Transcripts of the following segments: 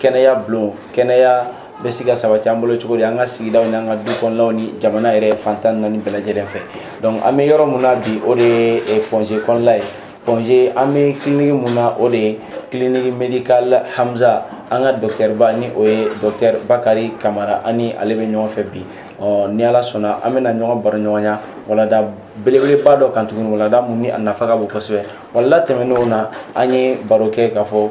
kɛnɛya bulon kɛnɛya bɛ se ka sabati an bolo cogo di an ka sigidaw ni an ka du kɔnɔnaw ni jamana yɛrɛ fantan naani bɛɛ lajɛlen fɛ donc an bɛ yɔrɔ mun na bi o de ye eh, point g kɔnɔla ye point g an bɛ kiliniki mun na o de ye kiliniki medikal hamza an ka dɔktɛriba ni o ye dɔktɛri bakari kamara an ni ale bɛ ɲɔgɔn fɛ bi ɔ ni ala sɔnna an bɛna ɲɔgɔn baro ɲɔgɔnya walanda belebeleba dɔ kan tuguni walanda mun ni a nafa ka bon kosɛbɛ walanda tɛmɛnenw na an ye baro kɛ k'a fɔ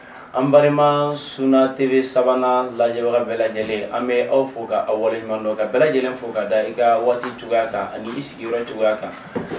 an balima suna tv savana lajɛbaga bɛɛ lajɛlen an bɛ aw fo ka aw waleɲuman dɔn ka bɛɛ lajɛlen fo ka da i ka waati cogoya kan ani i sigiyɔrɔ cogoya kan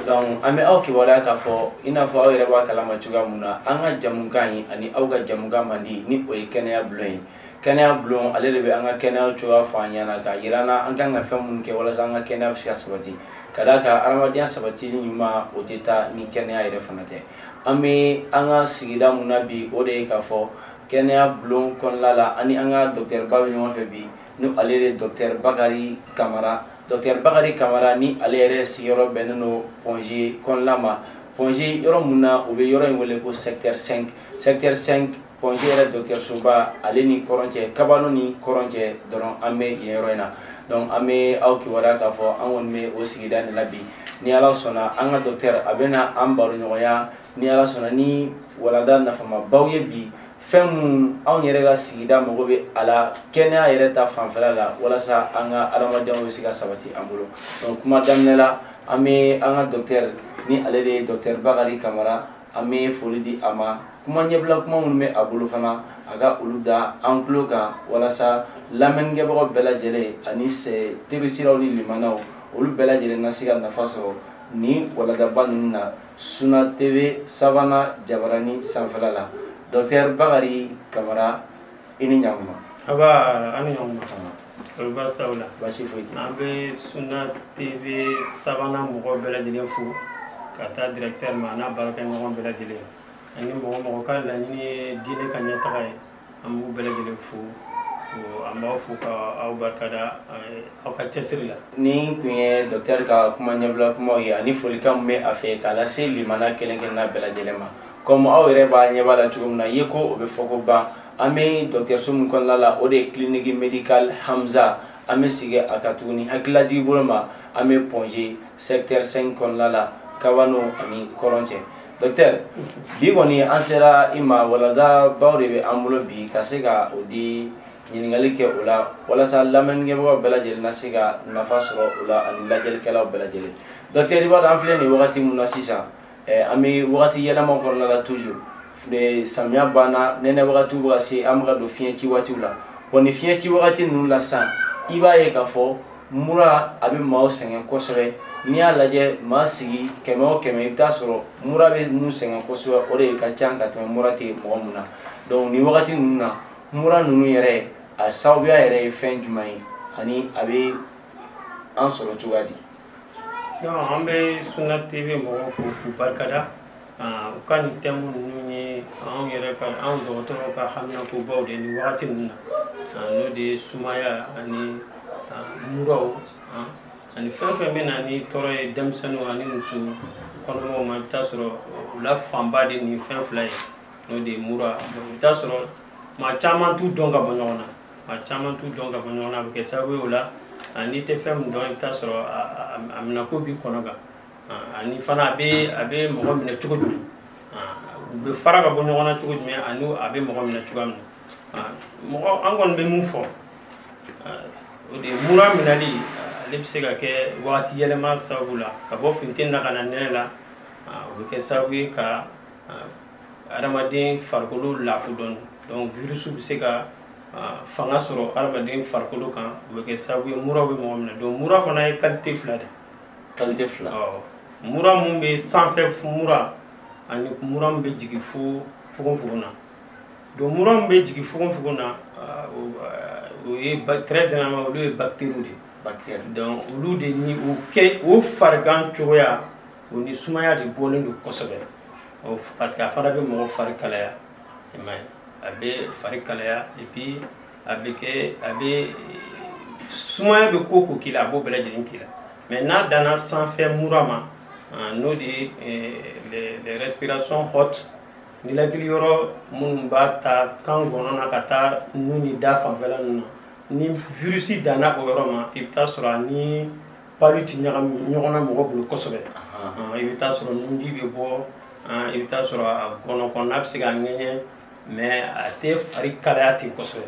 donc an bɛ aw kibaruya k'a fɔ i n'a fɔ aw yɛrɛ b'a kalama cogoya mun na an ka jamukan ye ani aw ka jamukan mandi ni o ye kɛnɛya bulon ye kɛnɛya bulon ale de bɛ an ka kɛnɛya cogoya fɔ an ɲɛna k'a jira an na an kan ka fɛn minnu kɛ walasa an ka kɛnɛya bɛ se ka sabati ka d'a kan adamadenya sabatili ɲuman o tɛ taa ni kɛnɛya yɛrɛ fana tɛ An bɛ an ka sigida min na bi o de ye k'a fɔ kɛnɛya bulon kɔnɔna la an ni an ka docteur ba bɛ ɲɔgɔn fɛ bi ni ale de ye docteur Bakari Kamara docteur Bakari Kamara ni ale yɛrɛ sigiyɔrɔ bɛnnen don Point G kɔnɔna ma Point G yɔrɔ min na u bɛ yɔrɔ in wele ko secteur 5 secteur 5 Point G yɛrɛ dɔkitɛrisoba ale ni kɔrɔn cɛ kabano ni kɔrɔn cɛ dɔrɔn an bɛ yen yɔrɔ in na donc an bɛ aw kibaruya k'a fɔ an kɔni bɛ o sigida de la bi ni ala sɔnna an ka dɔkitɛri a bɛna an baro ɲɔgɔnya ni ala sɔnna ni walanda nafamabaw ye bi fɛn minnu anw yɛrɛ ka sigida mago bɛ a la kɛnɛya yɛrɛ ta fanfɛla la walasa an ka adamadenya bɛ se ka sabati an bolo donc kuma daminɛ la an bɛ an ka dɔkitɛri ni ale de ye dɔkitɛri bakari kamara an bɛ foli di a ma kuma ɲɛbila kuma minnu bɛ a bolo fana a ka olu da an tulo kan walasa lamɛnnikɛbagaw bɛɛ lajɛlen ani terisiraw ni limanaw olu bɛɛ lajɛlen na se ka nafa sɔrɔ nin walandaba ninnu na suna tv savana jabarani sanfɛla la dɔktɛri bakari kamara i ni ɲakuma nba aw ni ɲakuma kɔri baasi t'aw la baasi foyi tɛ an bɛ suna tv savana mɔgɔw bɛɛ lajɛlen fo ka taa directeur ma n'a baarakɛɲɔgɔn bɛɛ lajɛlen ani mɔgɔ o mɔgɔ ka laɲini ye diinɛ ka ɲɛtaga ye an b'u bɛɛ lajɛlen fo an b'aw fo ka aw barika da aw ka cɛsiri la nin kun ye dɔktɛri ka kuma ɲɛbila kumaw ye ani folikan min bɛ a fɛ k'a lase limana kelen kelenna bɛɛ lajɛlen ma kɔmi aw yɛrɛ b'a ɲɛ b'a la cogo min na ye ko o bɛ fɔ ko ban an bɛ dɔktɛriso min kɔnɔna la o de ye kiliniki medikal hamza an bɛ segin a kan tuguni hakililajigi bolo ma an bɛ point g sɛktɛri 5 kɔnɔna la kabano a ni kɔrɔn cɛ docteur bi kɔni an sera i ma walandabaw de bɛ an bolo bi ka se ka o di ɲininkali kɛ o la walasa lamɛnnikɛbagaw bɛɛ lajɛlen na se ka nafa sɔrɔ o la ani lajɛlikɛlaw bɛɛ lajɛlen docteur i b'a dɔn an filɛ nin wagati min na sisan eh, an bɛ wagati yɛlɛma kɔnɔna la toujours eh, samiya banna nɛnɛ wagatiw bɛ ka se an bɛ ka don fiɲɛ ci waatiw la wa nin fiɲɛ ci wagati ninnu la sisan i b'a ye k'a fɔ mura a bɛ maaw sɛgɛn kosɛbɛ n'i y'a lajɛ maa sigi kɛmɛ o kɛmɛ i bɛ taa sɔrɔ mura bɛ min sɛgɛn kosɛbɛ o de ka ca ka tɛmɛ mura tɛ mɔgɔ min na donc nin wagati ninnu na mura ninnu yɛrɛ a sababuya yɛrɛ ye fɛn jumɛn ye ani a bɛ an sɔrɔ cogoya di. an bɛ Sunna TV mɔgɔw fo k'u barika da. Ah, u ka nin tɛmu ninnu ye anw yɛrɛ ka anw dɔgɔtɔrɔw ka haminankobaw de nin wagati ninnu na ah, n'o de ye sumaya ani ah, muraw ani fɛn o fɛn bɛ na ni tɔɔrɔ ye denmisɛnninw ani muso kɔnɔmaw ma i bɛ taa sɔrɔ u la fanba de nin fɛn fila ye n'o de ye mura i bɛ taa sɔrɔ maa caman t'u dɔn ka bɔ ɲɔgɔn na maa caman t'u dɔn ka bɔ ɲɔgɔn na a bɛ kɛ sababu ye o la n'i tɛ fɛn min dɔn i bɛ taa sɔrɔ a minɛko b'i kɔnɔ gan ani fana a bɛ a bɛ mɔgɔ minɛ cogo jumɛn u bɛ fara ka bɔ ɲɔgɔn na cogo jumɛn ani a bɛ mɔgɔ minɛ cogoya min na mɔgɔ an kɔni bɛ min fɔ o de ye mura minɛli ale bɛ se ka kɛ wagati yɛlɛma sababu la ka bɔ funteni na ka na nɛnɛ la o bɛ kɛ sababu ye ka adamaden farikolo lafu dɔɔni donc virus bɛ se ka fanga sɔrɔ adamaden farikolo kan o bɛ kɛ sababu ye mura bɛ mɔgɔ minɛ donc mura fana ye qualité fila de ye qualité fila mura min bɛ sanfɛ mura ani mura min bɛ jigin fo fogonfogon na donc mura min bɛ jigin fogonfogon na o ye très généralement olu ye bactéries de ye donc olu de ni o kɛ o farigan cogoya o ni sumaya de bɔlen don kosɛbɛ parce que a fana bɛ mɔgɔ fari kalaya i m'a ye a bɛ fari kalaya et puis a bɛ kɛ a bɛ sumaya bɛ ko o ko k'i la a b'o bɛɛ lajɛlen k'i la mais n'a danna sanfɛ mura ma n'o de ye eh, les respirations hautes ninakili yɔrɔ minnu b'a ta kan gɔnɔ na ka taa nun ni da fanfɛla ninnu na ni virusi danna o yɔrɔ ma i bɛ taa sɔrɔ a ni palu tɛ ɲagami ɲɔgɔn na mɔgɔ bolo kosɛbɛ i bɛ taa sɔrɔ nunji bɛ bɔ i bɛ taa sɔrɔ a gɔnɔ kɔnɔna bɛ se ka ŋɛɲɛ mais a tɛ fari kalaya ten kosɛbɛ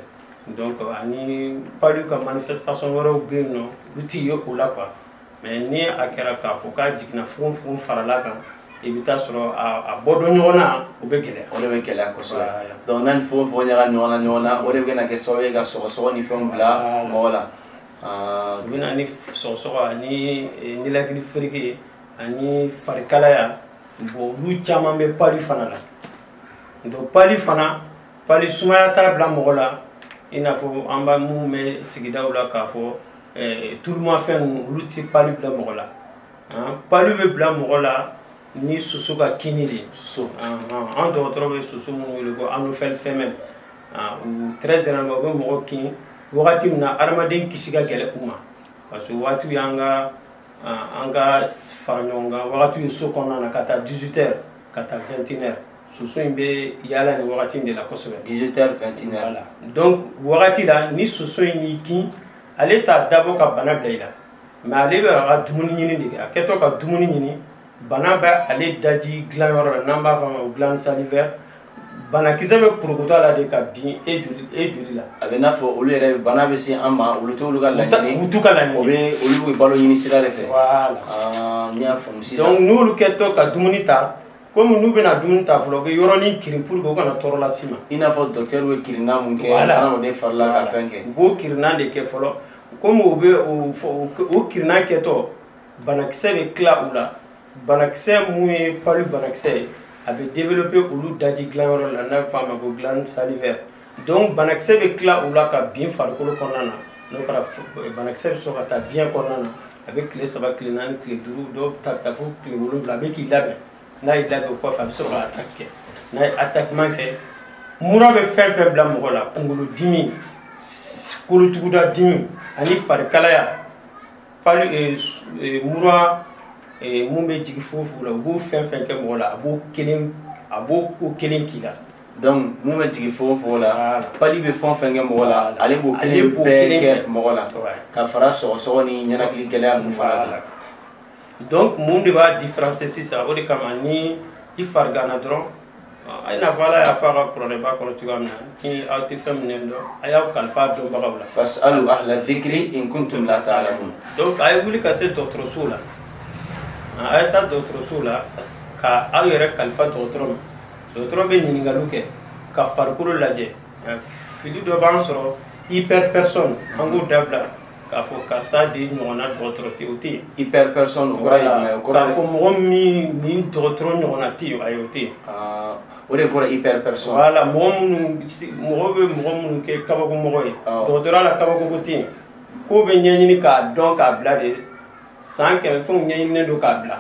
donc ani palu ka manifestation wɛrɛw bɛ yen n'olu tɛ ye o la quoi mais ni a kɛra k'a fɔ k'a jiginna fogonfogon farala kan i bɛ t'a sɔrɔ a bɛ don ɲɔgɔn na o bɛ gɛlɛya o de bɛ gɛlɛya kosɛbɛ donc n'a ni fogonfogon ɲaga ɲɔgɔn na ɲɔgɔn na o de bɛ na kɛ sababu ye ka sɔgɔsɔgɔ ni fɛnw bila mɔgɔ la u bɛ na ni sɔgɔsɔgɔ ani ninakili fereke ani farikalaya ba olu caman bɛ palu fana la donc pali fana pali sumaya t'a bila mɔgɔ la i n'a fɔ an bɛ min mɛn sigidaw la k'a fɔ eh, tulumafɛn ninnu olu ti pali bila mɔgɔ la pali bɛ bila mɔgɔ la ni soso ka kinni de soso an dɔgɔtɔrɔ bɛ soso minnu wele ko anophèle femelle u très généralement u bɛ mɔgɔ kin wagati min na adamaden kisi ka gɛlɛn u ma parce que wagatiw y'an ka an ka fara ɲɔgɔn kan wagatiw ye so kɔnɔna na k'a ta 18 heures ka taa 21 heures soso in bɛ yaala nin wagati in de la kosɛbɛ 18 heures 21 heures voilà donc wagati la ni soso in y'i kin ale t'a dabɔ ka bana bila i la mais ale bɛ a ka dumuni ɲini de kɛ a kɛtɔ ka dumuni ɲini bana bɛ ale daji dilanyɔrɔ la n'an b'a fɔ a ma ko glande salivaire banakisɛ bɛ porokoto a la de ka bin e joli e joli la a bɛ i n'a fɔ olu yɛrɛ bana bɛ se an ma o t'olu ka laɲini u t'u ka laɲini o bɛ olu bɛ balo ɲini sira de fɛ voilà ah, n y'a faamu sisan donc n'olu kɛtɔ ka dumuni ta komi n'u bɛna dumuni ta fɔlɔ u bɛ yɔrɔnin kirin pour que u kana tɔɔrɔ lase i ma i n'a fɔ docteur bɛ kirinna mun kɛ adamaden fari la ka fɛn kɛ u b'o kirinna de kɛ fɔlɔ komi u bɛ o kirinna kɛtɔ banakisɛ bɛ tila u la banakisɛ mun ye palu banakisɛ ye a bɛ développer olu daji dilanyɔrɔ la n'a bɛ fɔ a ma ko glande salivaire donc banakisɛ bɛ tila u la ka bin farikolo kɔnɔna na n'o kɛra banakisɛ bɛ sɔrɔ ka taa biɲɛ kɔnɔna na a bɛ tile saba tile naani tile duuru dɔw ta bɛ taa fo tile wolonwula a bɛ k'i labɛn n'a y'i labɛn o kɔfɛ a bɛ sɔrɔ ka attaque kɛ n'a ye attaque min kɛ mura bɛ fɛn o fɛn bila mɔgɔ la kunkolodimi kolotuguda dimi ani farikalaya pali eh, eh, mura eh, mun bɛ jigin fogonfogon la o bɛ fɛn o fɛn kɛ mɔgɔ la a b'o kelen a b'o ko kelen k'i la donc mun bɛ jigin fogonfogon la pali bɛ fɛn o fɛn kɛ mɔgɔ la ale b'o kelen bɛɛ kɛ mɔgɔ la ka fara sɔgɔsɔgɔ ni ninakili gɛlɛya ninnu fana kan donc mun de b'a différencier sisan o de kama ni i fariganna dɔrɔn a ye i n'a fɔ ala y'a fɔ a ka kuranɛba kɔnɔ cogoya min na ni aw tɛ fɛn min dɔn a y'aw kalifa dɔnbagaw la fasalu ahla dhikri in kuntum la ta'lamun donc a ye wuli ka se dɔgɔtɔrɔsow la a ye taa dɔgɔtɔrɔsow la ka aw yɛrɛ kalifa dɔgɔtɔrɔ ma dɔgɔtɔrɔ bɛ ɲininkaliw kɛ ka farikolo lajɛ fili dɔ b'an sɔrɔ hyper personne an k'o dabila k'a fɔ karisa de ɲɔgɔnna dɔgɔtɔrɔ tɛ o tɛ yen hyper personne o kɔrɔ ye jumɛn ye k'a fɔ mɔgɔ min ni dɔgɔtɔrɔ ɲɔgɔnna tɛ yen ayi o tɛ yen o de kɔrɔ hyper personne wala mɔgɔ minnu mɔgɔ bɛ mɔgɔ minnu kɛ kabako mɔgɔ ye dɔgɔtɔrɔya la kabako ko tɛ yen ko bɛ ɲɛɲini k'a dɔn k'a bila de san kɛmɛ fɛnw ɲɛɲininen don k'a bila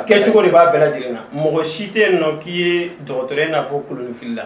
kɛcogo de b'a bɛɛ lajɛlen na mɔgɔ si tɛ yen nɔ k'i ye dɔgɔtɔrɔ ye i n'a fɔ kolonifilila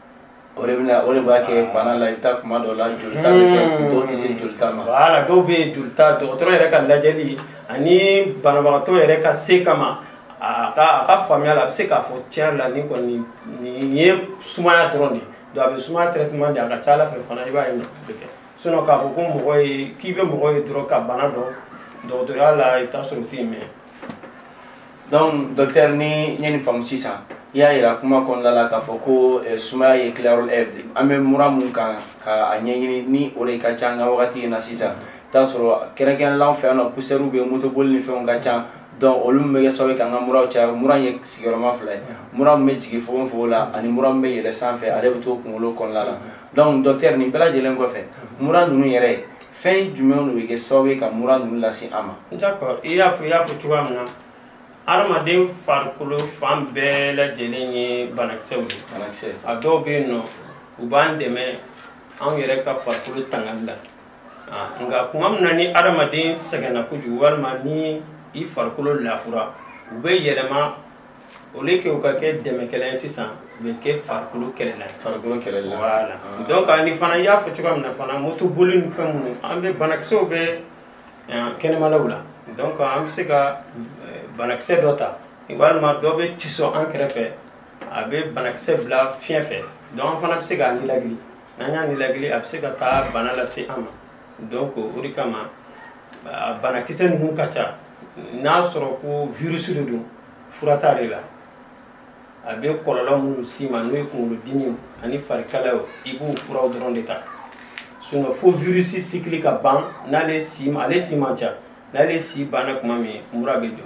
o de bɛna o de b'a kɛ bana la i bɛ taa kuma dɔ la jolita bɛ kɛ hmm. dɔw tɛ se jolita ma. wala dɔw bɛ yen jolita dɔgɔtɔrɔ yɛrɛ ka lajɛli ani banabagatɔ yɛrɛ ka se kama a ka a ka faamuya la a bɛ se k'a fɔ tiɲɛ la nin kɔni nin ye sumaya dɔrɔn de ye donc a bɛ sumaya traitement di a ka ca a la fɛ fana i b'a ye nafa bɛ kɛ sinon k'a fɔ ko mɔgɔ ye k'i bɛ mɔgɔ ye dɔrɔn ka bana dɔn dɔgɔtɔrɔya la i bɛ taa sɔrɔ o tɛ yen mɛ. donc docteur ni n ye nin faamu sisan i y'a yira kuma kɔnɔna la k'a fɔ ko eh, sumaya ye tilayɔrɔ eh, an bɛ mura min kan ka a ɲɛɲini ni o de ka ca an ka wagati in na sisan t'a sɔrɔ kɛrɛnkɛrɛnlen an fɛ yan nɔ poussièrew bɛ motoboli ni fɛnw ka ca donc olu min bɛ kɛ sababu ye k'an ka muraw caya mura ye sigiyɔrɔma fila ye mura min bɛ jigin fogofogo la ani mura min bɛ yɛlɛ sanfɛ ale bɛ to kunkolo kɔnɔna la donc docteur nin bɛɛ lajɛlen kɔfɛ mura ninnu yɛrɛ fɛn jumɛnw de bɛ kɛ sababu ye ka mura ninnu lase an ma. d'accord i y'a fɔ i y'a fɔ cogoya min na adamaden farikolo fan bɛɛ lajɛlen ye banakisɛw de ye. banakisɛ. a dɔw bɛ yen nɔ u b'an dɛmɛ anw yɛrɛ ka farikolo tangali la nka tuma min na ni adamaden sɛgɛnna kojugu walima ni i farikolo lafura u bɛ yɛlɛma au lieu que u ka kɛ dɛmɛkɛla ye sisan u bɛ kɛ farikolo kɛlɛla ye farikolo kɛlɛla voilà ah. donc ani fana i y'a fɔ cogoya min na fana moto boli ni fɛn minnu an bɛ banakisɛw bɛ eh, kɛnɛmalaw la donc an bɛ se ka eh, banakisɛ dɔ ta walima dɔ bɛ tiso an kɛrɛfɛ a bɛ banakisɛ bila fiɲɛ fɛ donc an fana bɛ se k'a nilagili n'an y'a nilagili a bɛ se ka taa bana lase an ma donc o de kama a banakisɛ ninnu ka ca n'a sɔrɔ ko virus de don fura t'ale la a bɛ kɔlɔlɔ minnu s'i ma n'o ye kunkolodimi ani farikalayaw i b'o furaw dɔrɔn de ta sinon fo virus cycle ka ban n'ale si ale si man ca n'ale si banna tuma min mura bɛ jɔ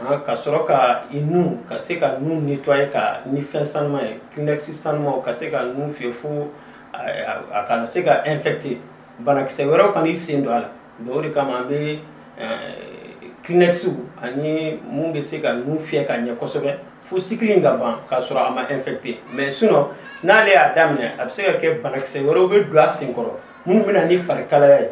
Ah, ka sɔrɔ ka i nu ka se ka nu nettoyer ka ni fɛn sanuman ye kleenex sanumanw ka se ka nu fiyɛ fo a kana se ka infecter banakisɛ wɛrɛw kana i sen don a la donc o de kama an bɛ kleenex ani mun bɛ se ka nu fiyɛ ka ɲɛ kosɛbɛ fo cycle in ka ban k'a sɔrɔ a ma infecter mais sinon n'ale y'a daminɛ a bɛ se ka kɛ banakisɛ wɛrɛw bɛ don a senkɔrɔ minnu bɛ na ni farikalaya ye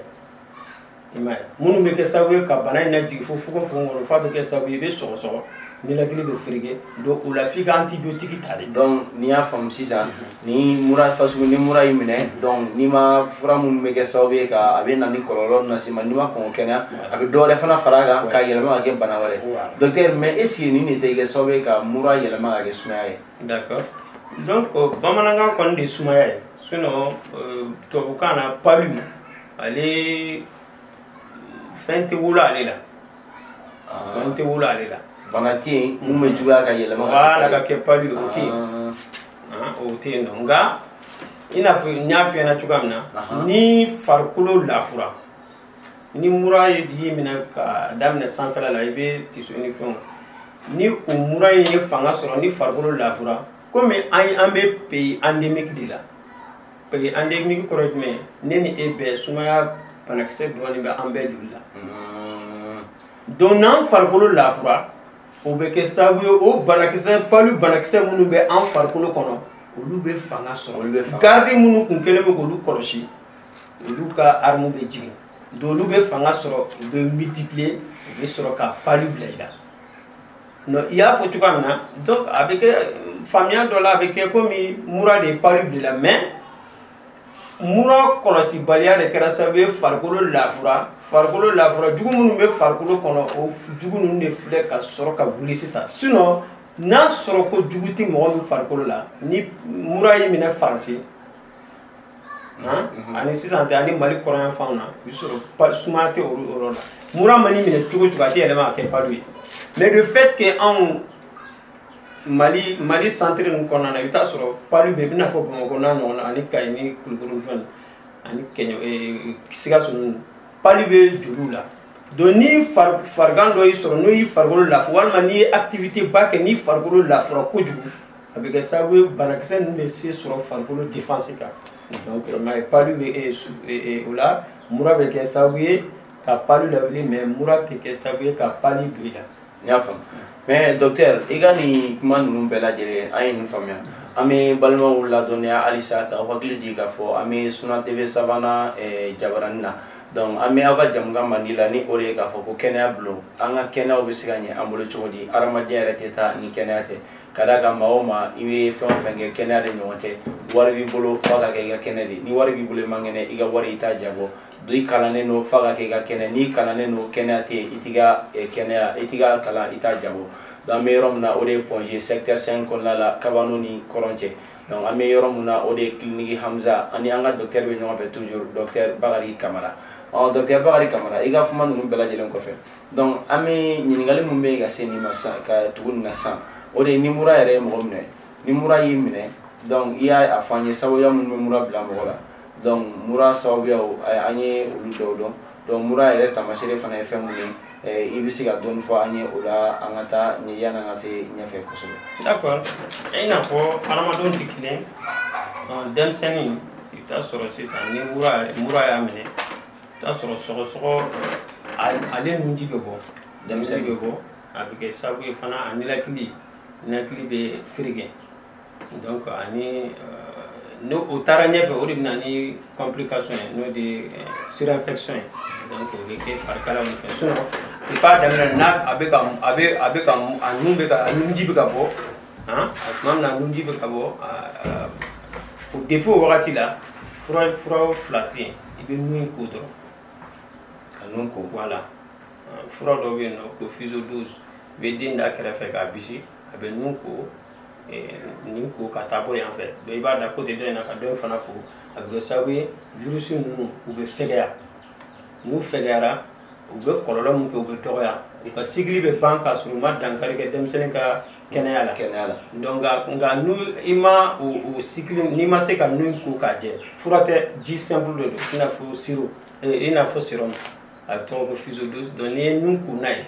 minnu bɛ kɛ sababu ye ka bana in lajigin fo fogonfogon kɔnɔ f'a bɛ kɛ sababu ye i bɛ sɔgɔsɔgɔ ninakili bɛ fereke donc o la f'i ka antibiyotiki ta de donc n'i y'a faamu sisan ni mura fasugu ni mura y'i minɛ donc n'i ma fura minnu bɛ kɛ sababu ye ka a bɛ na ni kɔlɔlɔ lase ma n'i ma kɔn kɛnɛya a bɛ dɔwɛrɛ fana fara a kan ka yɛlɛma ka kɛ bana wɛrɛ docteur mais est ce que nin de tɛ kɛ sababu ye ka mura yɛlɛma ka kɛ sumaya ye d'accord donc bamanankan kɔni de ye sumaya ye sinon tubabukan na palu ale fɛn tɛ wolo ale la fɛn tɛ wolo ale la bana tɛ yen mun bɛ juguya ka yɛlɛma wala ka kɛ palu o tɛ yen o tɛ yen non nka i n'a fɔ n y'a f'i ɲɛna cogoya min na ni farikolo lafura ni mura ye y'i minɛ ka daminɛ sanfɛla la i bɛ tiso ni fɛnw ni o mura in ye fanga sɔrɔ ni farikolo lafura komi an an bɛ pays endémique de la Parce que endémique kɔrɔ jumɛn ne ni e bɛɛ sumaya banakisɛ dɔɔnin bɛ an bɛɛ joli la hmm. donc n'an farikolo lafura o bɛ kɛ sababu ye o banakisɛ palu banakisɛ minnu bɛ an farikolo kɔnɔ olu bɛ fanga sɔrɔ garidi minnu kun kelen bɛ k'olu kɔlɔsi olu ka arme bɛ jigin donc olu bɛ fanga sɔrɔ u bɛ multiplier u bɛ sɔrɔ ka palu bila i la non i y'a fɔ cogoya min na donc a bɛ kɛ faamuya dɔ la a bɛ kɛ komi mura de ye palu bila i la mais mura kɔlɔsibaliya de kɛra sababu ye farikolo lafura farikolo lafura jugu minnu bɛ farikolo kɔnɔ o jugu ninnu de filɛ ka sɔrɔ ka wuli sisan sinon n'a sɔrɔ ko jugu tɛ mɔgɔ min farikolo la ni mura y'i minɛ faransi Mhm. ani sisan tɛ ani mali kɔrɔnyanfanw na i sɔrɔ sumaya tɛ olu yɔrɔ la mura man'i minɛ cogo cogo a tɛ yɛlɛma ka kɛ palu ye mais le fait que anw mali mali centre ninnu kɔnɔna na i bɛ taa sɔrɔ palu bɛ i b'i n'a fɔ bamakɔ n'a ɲɔgɔnna ani kayi ni kulukoro ni fɛn ani kɛɲɛ eh, sikaso ninnu palu bɛ joliw la donc ni farigan dɔ y'i sɔrɔ n'o y'i farikolo lafu walima n'i ye activité ba kɛ n'i farikolo lafura kojugu a bɛ kɛ sababu ye banakisɛ ninnu bɛ se sɔrɔ farikolo défense kan donc mais palu bɛ eh, eh, eh, o la mura bɛ kɛ sababu ye ka palu lawuli mais mura tɛ kɛ sababu ye ka palu don i la n y'a faamu mais docteur i ka nin kuma ninnu bɛɛ lajɛlen an ye nin faamuya an bɛ balimaw ladɔnniya halisa k'aw hakili jigin k'a fɔ an bɛ suna tv savana jabarani na donc an bɛ aw ka jɛmukan mandi la ni o de ye k'a fɔ ko kɛnɛya bulon an ka kɛnɛyaw bɛ se ka ɲɛ an bolo cogo di hadamadenya yɛrɛ tɛ taa ni kɛnɛya tɛ ka da kan maa o maa i bɛ fɛn o fɛn kɛ kɛnɛya de ɲɔgɔn tɛ wari b'i bolo f'a ka kɛ i ka kɛnɛ de ni wari b'i bolo i man kɛnɛ i ka wari i t'a jabɔ i kalannen don f'a ka kɛ i ka kɛnɛ n'i kalannen don kɛnɛya tɛ yen i t'i ka eh, kɛnɛya i t'i ka kalan i t'a jabɔ donc an bɛ yɔrɔ min na o de ye Point G secteur 5 kɔnɔna la kabano ni kɔrɔn cɛ donc an bɛ yɔrɔ min na o de ye kiliniki hamza ani an ka docteur bɛ ɲɔgɔn fɛ toujours docteur bakari kamara ɔ docteur bakari kamara i ka kuma ninnu bɛɛ lajɛlen kɔfɛ donc an bɛ ɲininkali min bɛ yen ka se nin ma sisan ka tugu nin na sisan o de ye ni mura yɛrɛ ye mɔgɔ minɛ ni mura y'i minɛ donc i y'a fɔ an ye sababuya minnu bɛ mura bila mɔgɔ la donc mura sababuyaw an ye olu dɔw dɔn donc mura yɛrɛ taamasere fana ye fɛn mun ye eh, i bɛ se ka dɔɔni fɔ an ye o la an ka taa nin yanni an ka se ɲɛfɛ kosɛbɛ. d'accord i n'a fɔ hadamadenw tɛ kelen denmisɛnnin i bɛ t'a sɔrɔ sisan ni mura mura y'a minɛ. t'a sɔrɔ sɔgɔsɔgɔ ale nunji bɛ bɔ denmisɛnnin bɛ bɔ a bɛ kɛ sababu ye fana a ninakili ninakili bɛ fereke donc ani euh, n'o taara ɲɛfɛ o de bɛ na ni complication ye n'o de euh, surinfection ye donc o bɛ kɛ farikala mun fɛ sinon i b'a daminɛ n'a a bɛ ka a bɛ a bɛ ka a nun bɛ ka a nunji bɛ ka bɔ han a tuma min na a nunji bɛ ka bɔ o depuis o wagati la fura fura fila tɛ yen i bɛ nun ko dɔrɔn ka nun ko bɔ a la fura dɔ bɛ yen n'u ko physiodose i bɛ den da kɛrɛ fɛ k'a bisi a bɛ nun ko nin ko ka taa bɔ yan fɛ donc i b'a da côté dɔ in na ka dɔ in fana ko a bɛ kɛ sababu ye virusi ninnu u bɛ fɛgɛya n'u fɛgɛyara u bɛ kɔlɔlɔ min kɛ u bɛ dɔgɔya u ka cycle bɛ ban k'a sɔrɔ u ma dankari kɛ denmisɛnnin ka kɛnɛya la kɛnɛya la donc nka n'i ma o o cycle n'i ma se ka nun ko k'a jɛ fura tɛ ji simple de don i n'a fɔ sirop i n'a fɔ sérum a tɔgɔ ko physiodose donc n'i ye nun ko n'a ye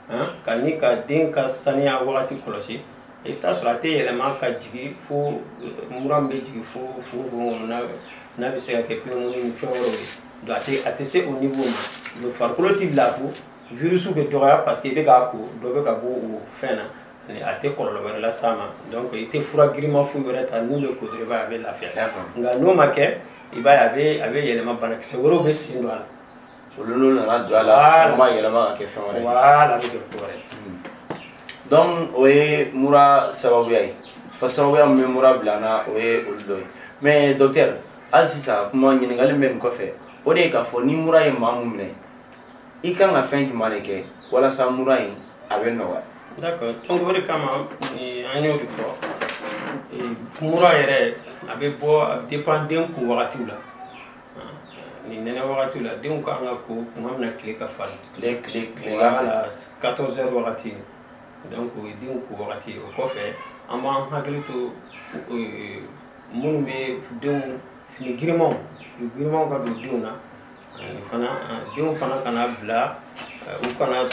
han ka ni ka den ka saniya wagati kɔlɔsi i bɛ t'a sɔrɔ a tɛ yɛlɛma ka jigin fo mura min bɛ jigin fo fogofogo kɔnɔ n'a n'a bɛ se ka kɛ pneumonie ni fɛn wɛrɛw ye donc a tɛ a tɛ se o niveau ma donc farikolo tɛ lafu virusi bɛ dɔgɔya parce que i bɛ k'a ko dɔ bɛ ka bɔ o fɛn na ani a tɛ kɔlɔlɔ wɛrɛ las'a ma donc i tɛ fura girinma foyi wɛrɛ ta nun bɛ ko dɔrɔn i b'a ye a bɛ lafiya nka n'o ma kɛ i b'a ye a bɛ a bɛ yɛlɛma banakisɛ wɛrɛw bɛ sen don a la olu n'u nana don a la o b'a yɛlɛma ka kɛ fɛn wɛrɛ ye wala a bɛ kɛ ko wɛrɛ ye donc o ye mura sababuya ye fa sababuya min bɛ mura bila an na o ye olu dɔ ye mais docteur hali sisan kuma ɲininkali min bɛ nin kɔfɛ o de ye k'a fɔ ni mura ye maa min minɛ i kan ka fɛn jumɛn de kɛ walasa mura in a bɛ nɔgɔya d'accord donc o de kama an y'o de fɔ mura yɛrɛ a bɛ bɔ a bɛ dépend den ko wagatiw la nin nɛnɛ wagatiw la denw ka kan ka ko tuma min na tile ka farin tile tile tile wala 14 heures wagati donc o ye denw ko wagati o kɔfɛ an b'an hakili to minnu bɛ denw fini girimanw fini girimanw ka don denw na ani fana denw fana kana bila u kana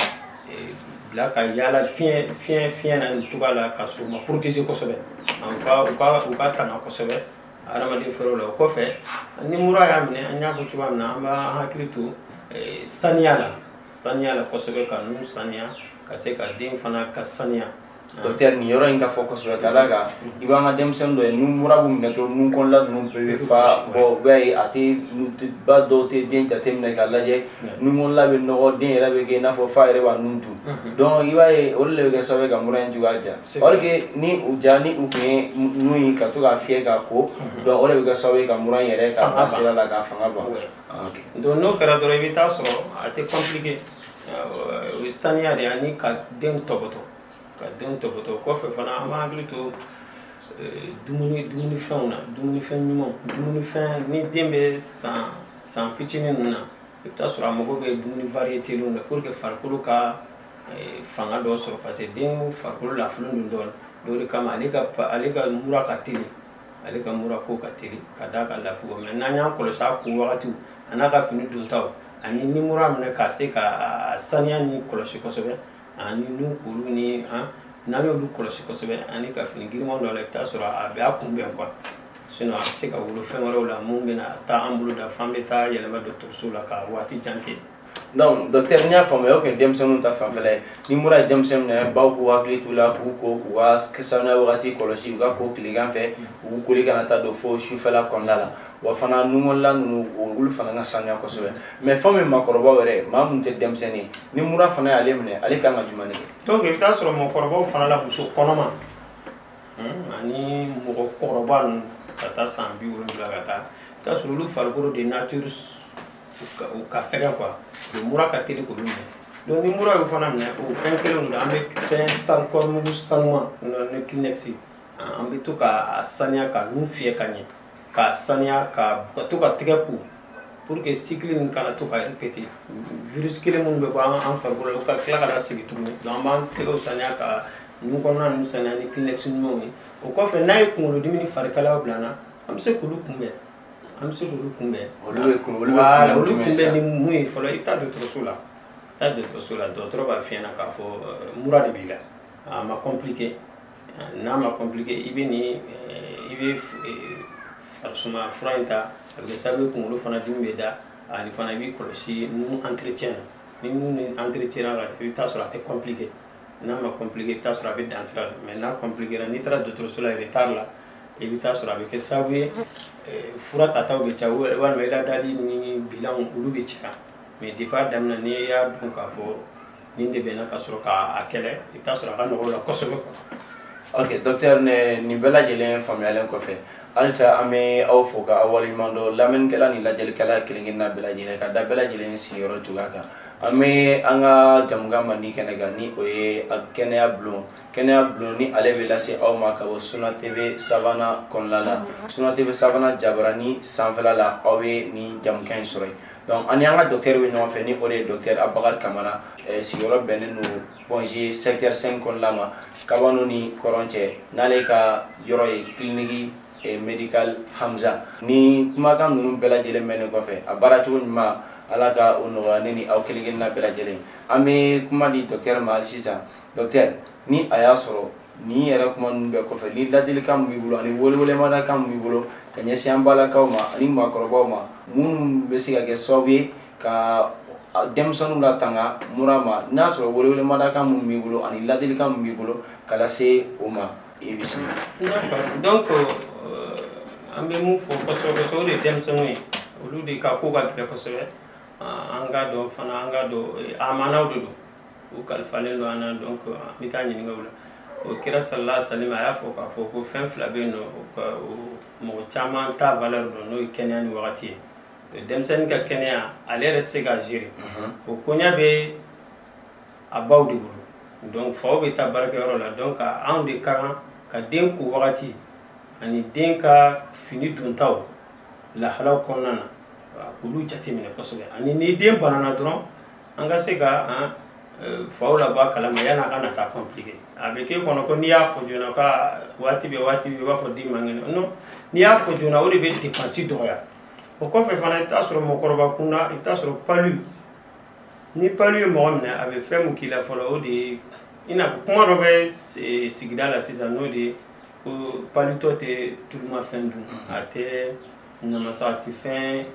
bila ka yaala fiɲɛ fiɲɛ fiɲɛ na nin cogoya la ka sɔrɔ u ma protéger kosɛbɛ u ka u ka u ka tanga kosɛbɛ adamaden fɛɛrɛw la o kɔfɛ ni mura y'a minɛ an y'a fɔ cogoya min na an b'an hakili to saniya la saniya la kosɛbɛ ka nun saniya ka se ka den fana ka saniya dɔktɛri nin yɔrɔ in ka fɔ kosɛbɛ ka d'a kan i b'an ka denmisɛnnin dɔ ye nun mura b'u minɛ dɔrɔn nun kɔnɔla ninnu bɛɛ bɛ fa bɔn i b'a ye a tɛ ba dɔw tɛ den jateminɛ ka lajɛ nun kɔnɔla bɛ nɔgɔ den yɛrɛ bɛ kɛ i n'a fɔ f'a yɛrɛ b'a nun dun donc i b'a ye olu de bɛ kɛ sababu ka mura in juguya ja or que ni u ja ni u tun ye nun ye ka to k'a fiyɛ k'a ko donc o de bɛ kɛ sababu ye ka mura in yɛrɛ ka sira la k'a fanga ban donc n'o kɛra dɔrɔn i bɛ taa sɔrɔ a tɛ compliquer o ye saniya de ye ani ka den tɔbɔtɔ ka den tɔbɔtɔ o kɔfɛ fana an b'an hakili to eh, dumuni dumunifɛnw na dumunifɛn ɲumanw dumunifɛn ni den bɛ san san fitinin ninnu na i bɛ taa sɔrɔ a mago bɛ dumuni varietelenw na pour que farikolo ka eh, fanga dɔ sɔrɔ parce que den farikolo lafulen don dɔɔnin o de kama ale ka ale ka mura ka teli ale ka mura ko ka teli ka da ka lafi mais n'an y'a kɔlɔsi a ko wagatiw an'a ka fini dontaw ani ni mura minɛ ka se k'a saniya nin kɔlɔsi kosɛbɛ ani ni olu ni n'an y'olu kɔlɔsi kosɛbɛ ani ka fini girinman don a la i bɛ t'a sɔrɔ a bɛ a kunbɛn quoi sinon a bɛ se ka wolo fɛn wɛrɛw la mun bɛna taa an bolo dan f'an bɛ taa yɛlɛma dɔgɔtɔrɔso la ka waati jan kɛ donc docteur n y'a faamuya o tun ye denmisɛnninw ta fanfɛla ye ni mura ye denmisɛn minɛ baw k'u hakili t'u la k'u ko k'u ka sanuya wagati kɔlɔsi u ka ko tilegan fɛ u koli kana ta don fo sufɛla kɔnɔna la wa fana nun kɔnɔla ninnu olu fana ka sanuya kosɛbɛ mais fɛn min makɔrɔbaw yɛrɛ maa minnu tɛ denmisɛnnin ni mura fana y'ale minɛ ale kan ka jumɛn de kɛ donc i bɛ taa sɔrɔ mɔgɔkɔrɔbaw fana la muso kɔnɔma hmm, ani mɔgɔkɔrɔba ninnu ka taa san bi wolonwula ka taa i bɛ taa sɔrɔ olu farikolo de nature u ka fɛgɛ quoi o mura ka teli k'olu minɛ donc ni mura y'o fana minɛ o fɛn kelenw don an bɛ fɛn san kɔɔrimugu sanuman ni kleenex an bɛ to k'a saniya ka nun fiyɛ ka ɲɛ k'a saniya ka ka to ka tɛgɛ ko pour que cycle nin kana to ka répéter virus kelen minnu bɛ bɔ an an farikolo la o ka tila ka na sigi tuguni donc an b'an tɛgɛw saniya ka nun kɔnɔna ninnu saniya ni kleenex ɲumanw ye o kɔfɛ n'a ye kunkolodimi ni farikalaya bila an na an bɛ se k'olu kunbɛn an bɛ se k'olu kunbɛn olu bɛ kun olu bɛ Voilà, kunbɛn olu jumɛn sa? kunbɛn ni mun ye fɔlɔ i bɛ taa dɔgɔtɔrɔso la i bɛ taa dɔgɔtɔrɔso la dɔgɔtɔrɔ b'a f'i ɲɛna k'a fɔ euh, mura de b'i la a ma compliqué Ah, n'a ma compliqué i bɛ nin euh, i bɛ f- euh, farisuma fura in ta a bɛ kɛ sababu ye kunkolo fana dimi bɛ da ani fana i b'i kɔlɔsi nun entretien na ni nun ni entretien na i bɛ taa sɔrɔ a tɛ compliqué n'a ma compliqué i bɛ taa sɔrɔ a bɛ dan sira la mais n'a compliqué n'i taara dɔgɔtɔrɔso la retard la i bɛ taa sɔrɔ a bɛ kɛ sababu ye fura tataw bɛ ca walima i ladali ni bilanw olu bɛ caya mais depuis a daminɛ n'i y'a dɔn k'a fɔ nin de bɛ n na ka sɔrɔ k'a kɛlɛ i bɛ taa sɔrɔ a ka nɔgɔ la kosɛbɛ ok docteur ni nin bɛɛ lajɛlen faamuyalen kɔfɛ halisa an bɛ aw fo ka aw waleɲuman dɔn lamɛnnikɛla ni lajɛlikɛla kelen kelenna bɛɛ lajɛlen ka da bɛɛ lajɛlen sigiyɔrɔ cogoya kan an bɛ an ka jamukan mandi kɛnɛ kan ni o ye kɛnɛya bulon kɛnɛya bulon ni ale bɛ lase aw ma ka bɔ Sunna TV Savana kɔnɔna la Sunna TV Savana jabarani sanfɛla la aw bɛ nin jamukan in sɔrɔ yen donc ani an ka docteur bɛ ɲɔgɔn fɛ ni o de ye docteur Abubakari Kamara eh, sigiyɔrɔ bɛnnen don Pɔnze secteur 5 kɔnɔna ma Kabano ni Kɔrɔn cɛ n'ale ka yɔrɔ ye kiliniki eh, médical Hamza ni kumakan ninnu bɛɛ lajɛlen mɛnnen kɔfɛ a baara cogo ɲuman Ala ka o nɔgɔya ne ni aw kelen kelenna bɛɛ lajɛlen an bɛ kuma di docteur ma hali sisan docteur ni a y'a sɔrɔ nin yɛrɛ kuma ninnu bɛɛ kɔfɛ ni ladilikan min b'i bolo ani welewelemadakan min b'i bolo ka ɲɛsin an balakaw ma ani maakɔrɔbaw ma minnu bɛ se ka kɛ sababu ye ka denmisɛnninw latanga mura ma n'a sɔrɔ welewelemadakan minnu b'i bolo ani ladilikan min b'i bolo ka lase o ma i bɛ se. donc euh, an bɛ mun fɔ kosɛbɛ kosɛbɛ o de ye denmisɛnninw ye olu de ka ko ka gɛlɛn kosɛbɛ an k'a dɔn fana an k'a dɔn amanaw de don. u kalifalen don an na donc an bɛ taa ɲininka o la o kira salala salima a y'a fɔ k'a fɔ ko fɛn fila bɛ yen ni mɔgɔ caman t'a valeur dɔn n'o ye kɛnɛya ni wagati ye euh, denmisɛnnin ka kɛnɛya ale yɛrɛ tɛ se k'a gérer mhm. o koɲa bɛ a baw de bolo donc faw bɛ taa baarakɛyɔrɔ la donc anw de ka kan ka den ko wagati ani den ka fini dontaw lahalaw kɔnɔna na k'olu jateminɛ kosɛbɛ ani ni den banana dɔrɔn an ka se ka faw labɔ a kalama yanni a ka na taa compliqué a bɛ k'e kɔnɔ ko n'i y'a fɔ joona ko waati bɛɛ waati bɛɛ i b'a fɔ den man kɛnɛ non n'i y'a fɔ joona o de bɛ dépense dɔgɔya o kɔfɛ fana i bɛ t'a sɔrɔ mɔgɔkɔrɔba kunda i bɛ t'a sɔrɔ palu ni palu ye mɔgɔ minɛ a bɛ fɛn min k'i la fɔlɔ o de ye i n'a fɔ kuma dɔ bɛ sigida la sisan n'o de ye ko palutɔ tɛ tulumafɛn dun a tɛ namasa a tɛ fɛn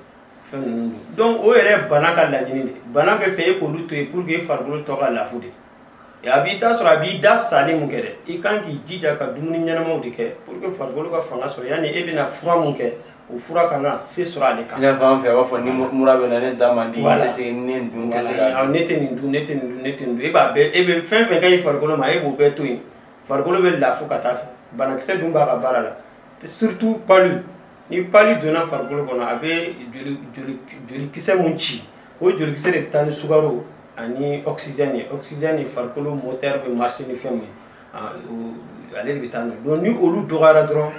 donc o yɛrɛ bana ka laɲini de bana b'a fɛ e k'olu to yen pour que farikolo tɔ ka lafu de a b'i ta sɔrɔ a b'i da salen mun kɛ dɛ i kan k'i jija ka dumuni ɲɛnamaw de kɛ pour que farikolo ka fanga sɔrɔ yanni e bɛna fura mun kɛ o fura kana se sɔrɔ ale kan. i n'a fɔ an fɛ a b'a fɔ ni mura bɛ n na ne da man di n tɛ se ne dun tɛ se ka. ne tɛ nin dun ne tɛ nin dun ne tɛ nin dun e b'a bɛɛ e bɛ fɛn fɛn ka ɲi farikolo ma e b'o bɛɛ to yen farikolo bɛ lafu ka taa fɛ banakisɛ dun b'a ka baara la surtout palu. ni palu donna farikolo kɔnɔ a bɛ jolikisɛ min ci o jolikisɛ de bɛ taa ni sukaro ani oxygène ye oxygène ye farikolo moteur bɛ marché ni fɛn min ye ale de bɛ taa n'o ye donc ni olu dɔgɔyara dɔrɔn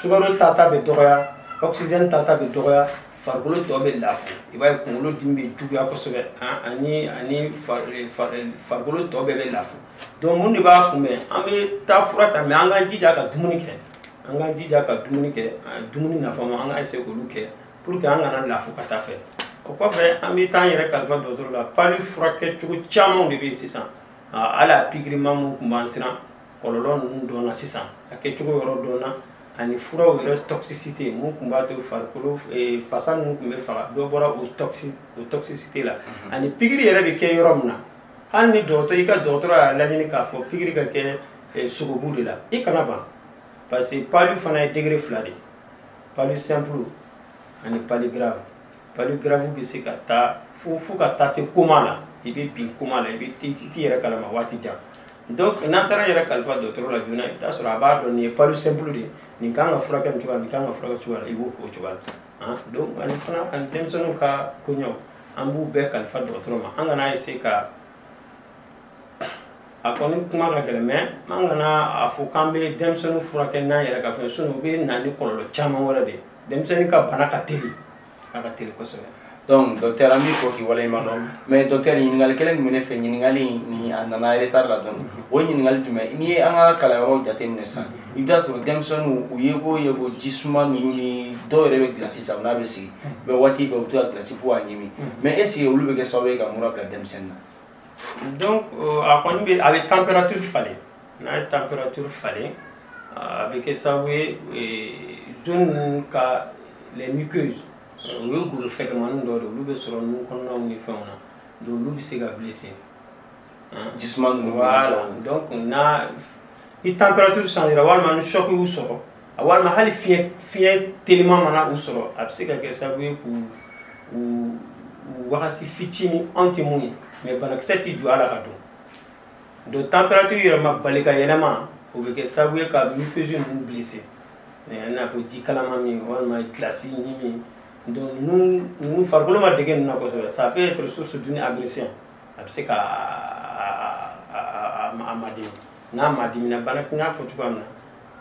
sukaro tata bɛ dɔgɔya oxygène tata bɛ dɔgɔya farikolo tɔ bɛ lafu i b'a ye kunkolo dimi bɛ juguya kosɛbɛ ani ani farikolo tɔ bɛɛ bɛ lafu donc mun de b'a kunbɛn an bɛ taa fura ta mais an k'an jija ka dumuni kɛ an k'an jija ka dumuni kɛ dumuni nafama an ka essayer k'olu kɛ pour que an kana lafu ka taa fɛ o kɔfɛ an bɛ taa an yɛrɛ kalifa dɔgɔtɔrɔ la palu furakɛ cogo camanw de bɛ yen sisan hali a pikirima minnu tun b'an siran kɔlɔlɔ ninnu dɔnna sisan a kɛcogo yɔrɔ dɔnna ani furaw yɛrɛ toxicité mun tun b'a to farikolo eh, fasa ninnu tun bɛ faga dɔ bɔra o toxicité la mhm. ani pikiri yɛrɛ bɛ kɛ yɔrɔ min na hali ni dɔgɔtɔ i ka dɔgɔtɔrɔ y'a laɲini k'a fɔ pikiri ka kɛ eh, sogobu de la i kana ban parce que palu fana ye degré fila de palu simple ani palu grave palu grave bɛ se ka taa fo fo ka taa se coma la i bɛ bin coma la i t'i yɛrɛ kalama waati jan donc n'an taara an yɛrɛ kalifa dɔgɔtɔrɔ la joona i bɛ taa sɔrɔ a b'a dɔn nin ye palu simple de ye nin kan ka furakɛ nin cogoya nin kan ka furakɛ cogoya la i b'o k'o cogoya la Ah, donc ani fana ani denmisɛnninw ka koɲɔ an b'u bɛɛ kalifa dɔgɔtɔrɔ ma an kana essayer ka a kɔni kuma ka gɛlɛn mais an kana a fɔ k'an bɛ denmisɛnninw furakɛ n'an yɛrɛ ka fɛn sinon u bɛ na ni kɔlɔlɔ caman wɛrɛ de denmisɛnnin ka bana ka teli a ka teli kosɛbɛ donc docteur an b'i fo k'i waleɲuman dɔn mais docteur ɲininkali kelen tun bɛ ne fɛ ɲininkali nin a nana retard la dɔɔni o ɲininkali jumɛn n'i ye an ka kalanyɔrɔw jateminɛ sisan i bɛ taa sɔrɔ denmisɛnninw u ye ko ye ko ji suma ninnu ni dɔw yɛrɛ bɛ gilasi san n'a bɛ sigi mɛ waati bɛɛ u bɛ to ka gilasi fo k'a ɲimi mais est-ce que olu bɛ kɛ sababu ye ka mura bila denmisɛnnin na donc euh, a kɔni bɛ a bɛ température falen n'a ye température falen a bɛ kɛ sababu ye euh, zone ninnu ka les muqueuses euh, u ye golo fɛgɛnmannin dɔ de olu bɛ sɔrɔ nun kɔnɔnaw ni fɛnw na donc olu bɛ se ka blessé jisuma ninnu voilà donc n'a ni température changera walima ni choc y'u sɔrɔ walima hali fiɲɛ fiɲɛ teliman mana u sɔrɔ a bɛ se ka kɛ sababu ye k'u u wagasi fitini anw tɛ min ye mais banakisɛ tɛ jɔ a la ka don donc température yɛlɛma bali ka yɛlɛma o bɛ kɛ sababu ye ka muqueuse ninnu blesser i n'a fɔ ji kalaman min walima glace ɲimi donc ninnu ninnu farikolo ma dege ninnu na kosɛbɛ ça peut être source d'une agression a bɛ se ka a madimi n'a madimina bana tun y'a fɔ cogoya min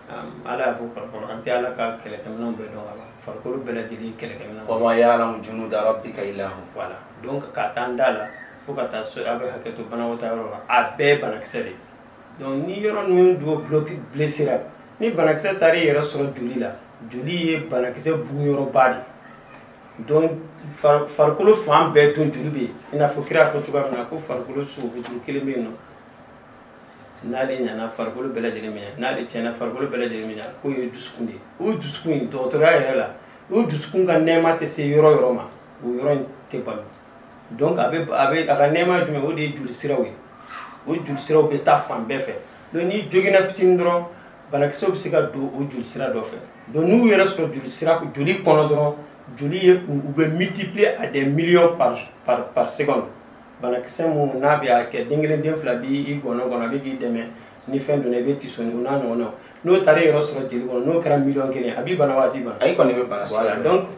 na ala y'a fɔ kuranɛ kɔnɔ an tɛ ala ka kɛlɛkɛminɛnw bɛɛ dɔn a la farikolo bɛɛ lajɛlen kɛlɛkɛminɛn wa ma ya'lamu junuda rabbika illa hu voilà donc k'a ta an da la fo ka taa se a bɛ hakɛ to banakɔtaa yɔrɔ la a bɛɛ banakisɛ de donc ni yɔrɔ ninnu dɔ bloki blessera ni banakisɛ taara i yɛrɛ sɔrɔ joli la joli ye banakisɛ bugun yɔrɔba de donc farikolo fan bɛɛ dun joli bɛ yen i n'a fɔ kira fɔ cogoya min na ko farikolo sogo kuru kelen bɛ yen nɔ n'ale ɲana farikolo bɛɛ lajɛlen bɛ ɲɛ n'ale tiɲɛna farikolo bɛɛ lajɛlen bɛ tiɲɛ k'o ye dusukun de ye o dusukun in dɔgɔtɔrɔya yɛrɛ la o dusukun ka nɛɛma tɛ se yɔrɔ yɔrɔ ma o yɔrɔ in tɛ balo donc a bɛ a bɛ a ka nɛɛma ye jumɛn o de ye joli siraw ye o joli siraw bɛ taa fan bɛɛ fɛ donc n'i joginna fitinin dɔrɔn banakisɛw bɛ se ka don o joli sira dɔ fɛ donc n'u yɛrɛ sɔrɔ joli sira joli kɔnɔ dɔrɔn joli ye u bɛ multiplier à des millions par par par seconde banakisɛ minnu n'a bɛ a kɛ den kelen den fila b'i i gɔnɔ kɔnɔ a bɛ k'i dɛmɛ ni fɛn donna i bɛ tiso ni o n'a ɲɔgɔnnaw n'o taara i yɛrɛ sɔrɔ joli kɔnɔ n'o kɛra miliyɔn kelen a b'i bana wa a t'i bana. A i kɔni bɛ bana sisan. Voilà donc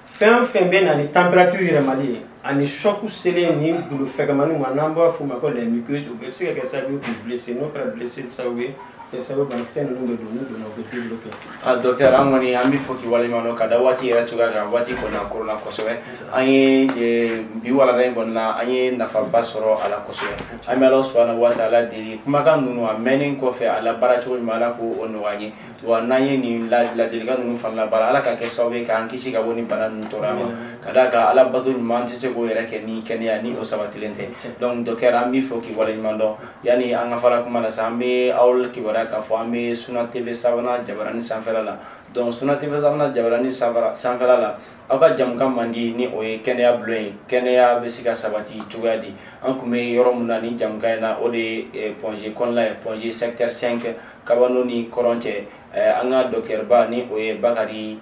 fɛn o fɛn bɛ na ni température yɛlɛmali ye ani choc selen ni golo fɛgɛmani ma n'an b'a f'o ma ko les muqueuses o bɛɛ bɛ se ka kɛ sababu ye k'u blesser n'o kɛra blessure sababu ye kɛ sababu banakisɛ ninnu bɛ don n'u donna u bɛ développer. a docteur an kɔni an b'i fo k'i waleɲuman dɔn ka da waati yɛrɛ cogoya kan waati kɔni a koronna kosɛbɛ an ye e, bi walanda in kɔni na an ye nafaba sɔrɔ a la kosɛbɛ an bɛ ala subahana wa taala deli kumakan ninnu a mɛnnen kɔfɛ a labaara cogo ɲuman ala k'o nɔgɔya an ye. wa n'an ye nin ladilikan ninnu fana labaara ala k'a kɛ sababu ye k'an kisi ka bɔ nin bana ninnu tɔɔrɔya ma ka d'a kan ala bato ɲuman an tɛ se k'o yɛrɛ kɛ ni kɛnɛya ni o sabatilen tɛ donc dɔkitɛri an b'i fo k'i waleɲuman dɔn yanni an ka fara kuma la sa an bɛ aw kibaruya k'a fɔ an bɛ suna tv savana jabarani sanfɛla la donc suna tv savana jabarani sanfɛla la aw ka jɛmukan mandi ni o ye kɛnɛya bulon ye kɛnɛya bɛ se ka sabati cogoya di an tun bɛ yɔrɔ min na ni jɛmukan in na o de ye eh, pɔnze kɔnɔna ye pɔnze secteur 5 Kabano ni kɔrɔn cɛ an ka dɔkitɛriba ni o ye bakarijan